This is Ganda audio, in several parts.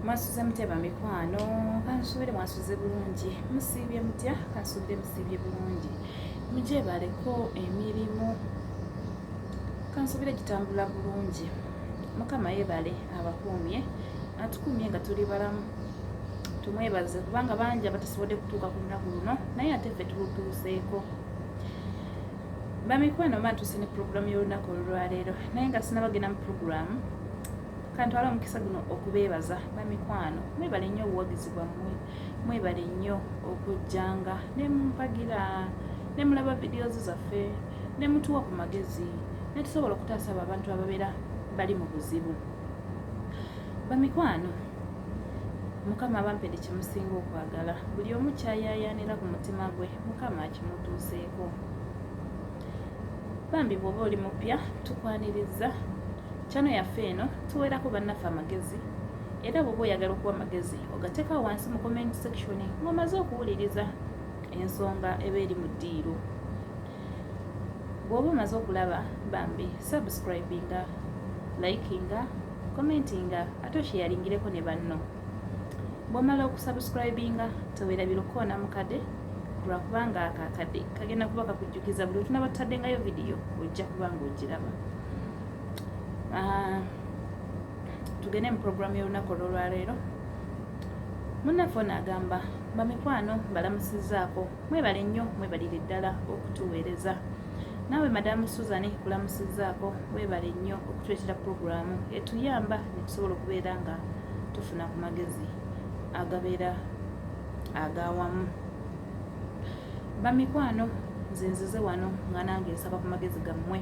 mwasuze muteba mikwano kansuubire mwasuze bulungi musiibye mutya kansuubire musiibye bulungi mugyebaleko emirimu kansuubire gitambula bulungi mukama yebale abakuumye atukuumye nga tuli balamu tumwebaze kubanga bangi abatasobodde kutuuka ku lunaku luno naye ate ffe tulutuuseeko bamikwano matuuse ne pulogulaamu y'olunaku olwaleero naye nga sinabagenda mu pulogulaamu kantwala omukisa guno okubeebaza bamikwano mwebale nnyo obuwagizi bwammwe mwebale nnyo okujjanga nemumpagira nemulaba videos zaffe nemutuwa ku magezi netusobola okutaasa abo abantu ababeera bali mu buzibu bamikwano mukama abampede kyemusinga okwagala buli omu kyayayaanira ku mutima gwe mukama akimutuuseeko bambi bwoba oli mupya tukwaniriza kyano yaffe eno tuwerako bannaffe amagezi era bwoba oyagala okuwa amagezi ogateeka wansi mu comment section ng'omaze okuwuliriza ensonga eba eri mu ddiiro bwoba omaze okulaba bambi subscribinga likinga commentinga ate okyeyalingireko ne banno bwomala okusubscribinga tewerabira okukoona mukade lwakubanga ako akade kagenda kuba kakujjukiza buli otunaba tutaddengayo vidiyo ojja kuba nga ogiraba ah, tugende mu puroguramu y'olunaku olwolwaleero munaffe ono agamba bamikwano mbalamusizaako mwebale nnyo mwebalire ddala okutuweereza naawe madamu susan kulamusizaako webale nnyo okutuleetera pulogulaamu etuyamba netusobola okubeera nga tufuna ku magezi agabeera agawamu bamikwano nze nzize wano nga nange nsaba ku magezi gammwe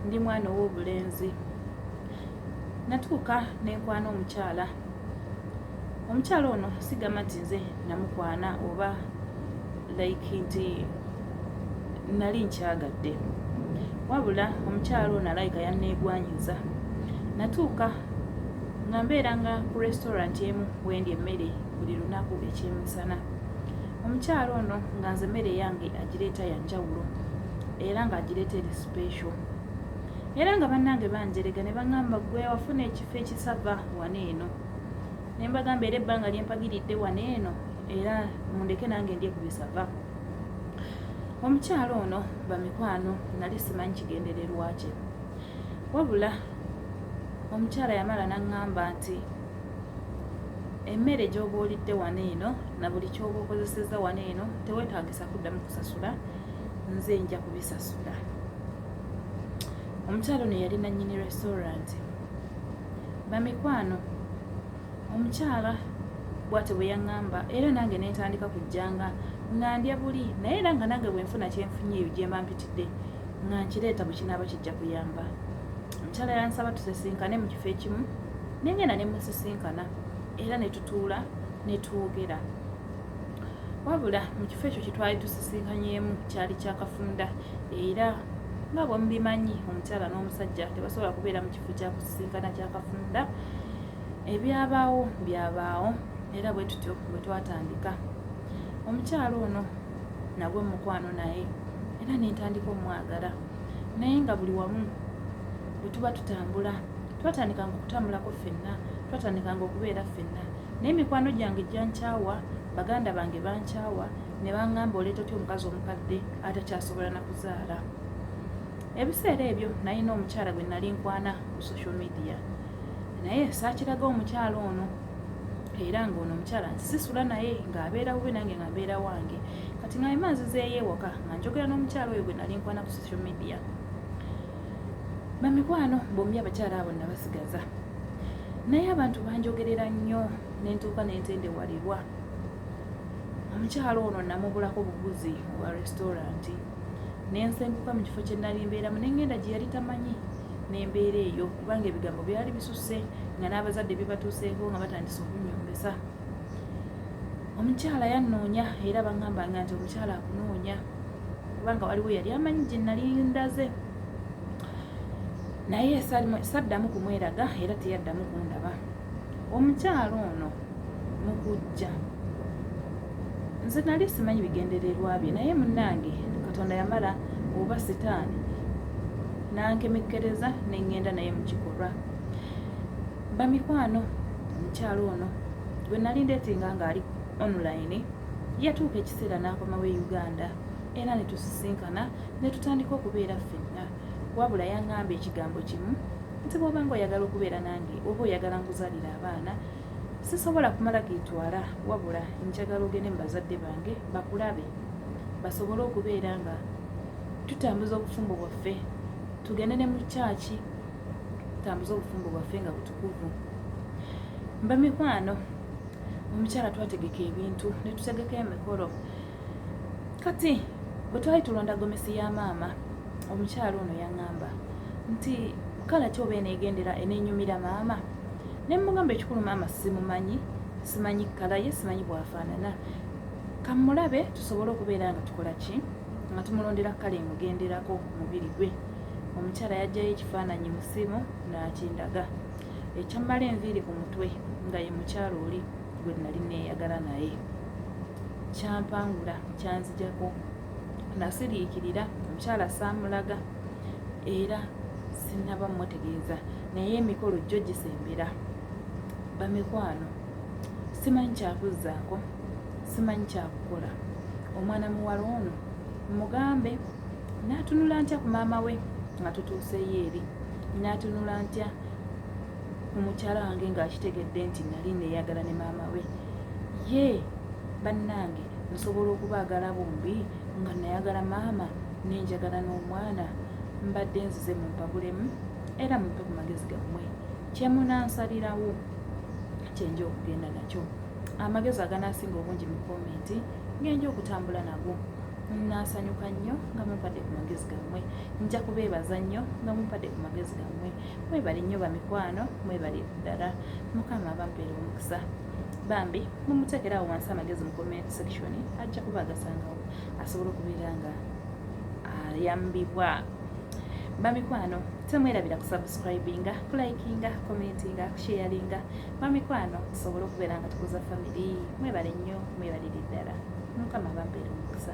ndi mwana ow'obulenzi natuuka nenkwana omukyala omukyala ono sigamba nti nze namukwana oba like nti nali nkyagadde wabula omukyala ono alayika yanneegwanyiza natuuka nga mbeera nga ku restaurant emu wendi emmere buli lunaku ekyemisana omukyala ono nga nze emmere yange agireeta yanjawulo era nga agireeta eri special era nga bannange banjerega ne baŋamba gwe wafuna ekifo ekisava wana eno ne mbagamba era ebbanga lye mpagiridde wano eno era mundeke nange ndye ku bisava omukyalo ono bamikwano nali simanyi kigendererwa kye wabula omukyala yamala naŋŋamba nti emmere gy'oba olidde wano eno na buli ky'oba okozesezza wano eno tewetaagisa kuddamu kusasula nze nja kubisasula omukyalo ne yali nannyini restauranti Bamikwano, omukyala bwatyo bwe yaŋŋamba era nange ne ntandika kujjanga nga ndya buli naye era nga nange bwe nfuna kye nfunye eyo gye mba mpitidde nga nkireeta bwe kinaaba kijja kuyamba. Omukyala yansaba tusisinkane mu kifo ekimu ne ngenda ne musisinkana era ne tutuula ne twogera. Wabula mu kifo ekyo kye twali tusisinkanyeemu kyali kya kafunda era nga bwe mubimanyi omukyala n'omusajja tebasobola kubeera mu kifo kya kusisinkana kya kafunda ebyabaawo byabaawo era bwe tutyo bwe twatandika omukyalo ono nagwe mukwano naye era nentandika omwagala naye nga buli wamu bwe tuba tutambula twatandikanga okutambulako ffenna twatandikanga okubeera ffenna naye mikwano gyange gyankyawa baganda bange bankyawa ne bangamba oleeta otya omukazi omukadde atakyasobola na kuzaala Ebiseera ebyo nalina omukyala gwe nali nkwana ku social media naye saakiraga omukyala ono era ng'ono omukyala nsisula naye ng'abeera bube nange nga mbeera wange kati nga ema nzizeeyo ewaka nga njogera n'omukyala oyo gwe nali nkwana ku social media bamikwano bombi abakyala abo nabasigaza naye abantu banjogerera nnyo nentuuka nentendewalirwa omukyalo ono namubulako buguzi wa restauranti ne nsenguka mu kifo kye nnali mbeeramu ne ngenda gye yali tamanyi n'embeera eyo kubanga ebigambo byali bisusse nga n'abazadde bibatuuseeko nga batandise okunyombesa omukyala yannoonya era bangambanga nti omukyala akunoonya kubanga waliwo yali amanyi gye nnali ndaze naye saddamu kumweraga era teyaddamu kundaba omukyalo ono mukujja nze nali simanyi bigendererwa bye naye munange katonda yamala oba sitaani nankemekkereza nengenda naye mukikolwa bamikwano omukyalo ono gwe nali ndetinga ngaali online yatuuka ekiseera n'akomawo e uganda era netusisinkana netutandika okubeera ffenna wabula yaŋŋamba ekigambo kimu nti bw'oba nga oyagala okubeera nange oba oyagala nkuzalira abaana sisobola kumala geetwala wabula njagala ogende mu bazadde bange bakulabe basobole okubeera nga tutambuza obufumbo bwaffe tugende ne mu kyaki tutambuze obufumbo bwaffe nga butukuvu mba mikwano omukyala twategeka ebintu netutegeka emikolo kati bwe twali tulonda gomesi ya maama omukyala ono yaŋŋamba nti kala kyoba eneegendera eneenyumira maama ne mugamba ekikulu maama simumanyi simanyi kkala ye simanyi bwafaanana kamulabe tusobole okubeera nga tukola ki nga tumulondera kkala emugenderako mubiri gwe omukyala yajjayo ekifaananyi musimu n'akindaga ekyammala enviiri ku mutwe nga ye mukyala oli gwe nali neeyagala naye kyampangula kyanzijako nasiriikirira omukyala saamulaga era sinaba mutegeeza naye emikolo jjo gisembera bamikwano simanyi kyakuzzaako simanyi kyakukola omwana muwala ono mugambe n'atunula ntya ku maama we nga tutuuseyo eri n'atunula ntya omukyala wange ng'akitegedde nti nali neeyagala ne maama we ye bannange nsobola okubaagala bombi nga nayagala maama nenjagala n'omwana mbadde nzize mu mpabulemu era mumpe ku magezi gammwe kyemunansabirawo kyenja okugenda nakyo amagezi aganaasinga obungi mu komenti ngenja okutambula nago nasanyuka nnyo nga mumpadde ku magezi gammwe nja kubeebaza nnyo nga mumpadde ku magezi gammwe mwebale nnyo bamikwano mwebale ddala mukama abampeera omukisa bambi mumuteekerawo wansi amagezi mu comment section ajja kuba agasangawo asobola okubeera nga ayambibwa bamikwano temwerabira kusubscribinga kulikinga commentinga kusharinga bamikwano tusobole okubeera nga tukuza family mwebale nnyo mwebalire ddala mukama abampeera omukisa